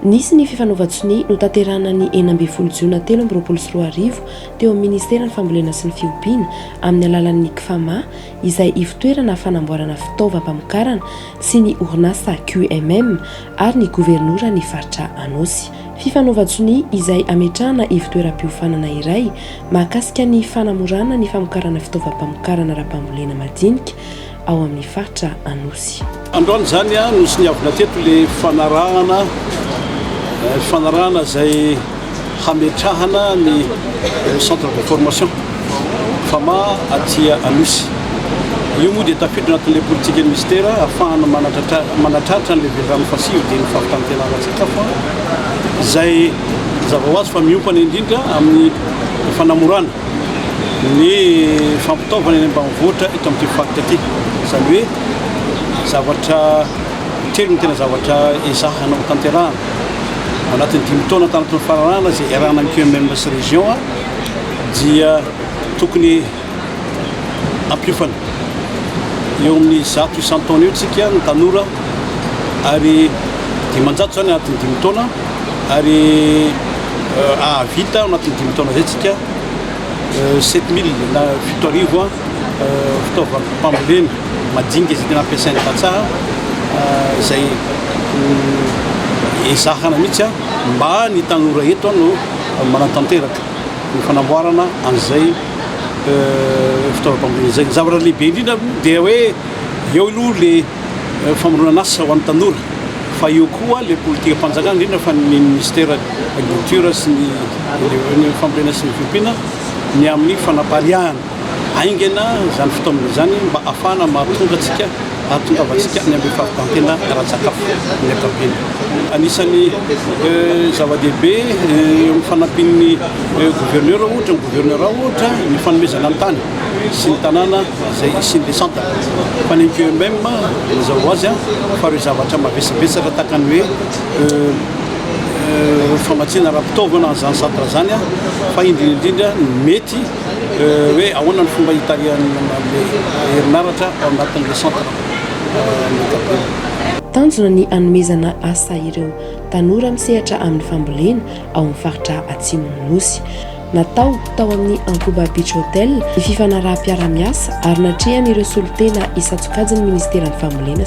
Nisy ny fifanaovan-tsonia notanterahina ny enina ambin'ny folo jiona telo amby roapolo sy roa arivo teo amin'ny ministeran'ny fambolena sy ny fiompiana amin'ny alalan'ny CFAMA, izay ivotoerana fanamboarana fitaovam-pamokarana sy ny orinasa QMM ary ny governoran'ny faritra Anôsy. Fifanaovan-tsonia izay hametrahana ivotoeram-piofanana iray mahakasika ny fanamorana ny famokarana fitaovam-pamokarana ara-pambolena madinika ao amin'ny faritra Anosy. Androany izany no soniavina teto ilay fanarahana, fanarahana izay hametrahana ny centre de formation Fama aty Anosy. Io moa dia tafiditra anatin'ilay politikan'ny Minisitera ahafahana manatratra an'ilay velirano fasivo dia ny fampitanintenana sakafo izay mazava ho azy fa miompana indrindra amin'ny fanamorana ny fampitaovana eny ambanivohitra eto amin'ity faritra ity. Izany hoe. Zavatra telo no tena zavatra ezahana ho tanterahana ao anatin'ny dimy taona tany anatin'ny fanarahana izay iarahana amin'ny QMM sy région dia tokony ampiofana eo amin'ny zato isan-taona eo tsika ny tanora ary dimanjato izany anatin'ny dimy taona ary euh, ahavita ao anatin'ny dimy taona izay tsika sept mille na fito arivo fitaovam-pambolena madinika izay tena ampiasain'ny tantsaha izay ezahana mihitsy mba ny tanora eto no manatanteraka ny fanamboarana an'izay fitaovam-pambolena izay. Ny zavatra lehibe indrindra dia hoe eo aloha ilay famoronana asa ho an'ny tanora. Fa eo koa ilay politikam-panjakana, indrindra fa ny Minisitera Agriculture sy ny Ireo Fambolena sy ny Fiompiana ny amin'ny fanapariahana haingana izany fitaomana izany mba hahafahana mahatonga antsika, hahatongavantsika any amin'ny fahavitan-tena ara-tsakafo amin'ny ankapobeny. Anisan'ny zava-dehibe eo amin'ny fanampian'ny Gouverneur ohatra, ny Gouverneur ohatra, ny fanomezana ny tany. sy ny tanàna izay hisian'ny descente. Fa ny QMM mazava ho azy fa ireo zavatra mavesabesatra tahaka ny hoe famatsiana ara-pitaovana an'izany centre izany fa indrindra indrindra ny mety hoe ahoana ny fomba hitarihan'ny herinaratra ao anatin'ilay centre ny ankapobeny. Tanjona ny hanomezana asa ireo tanora misehatra amin'ny fambolena ao amin'ny faritra Atsimon'ny Nosy. Natao tao amin'ny Ankoba Beach Hotel ny fifanaraham-piarahamiasa ary natrehan'ireo solontena isan-tsokajin'ny Ministeran'ny Fambolena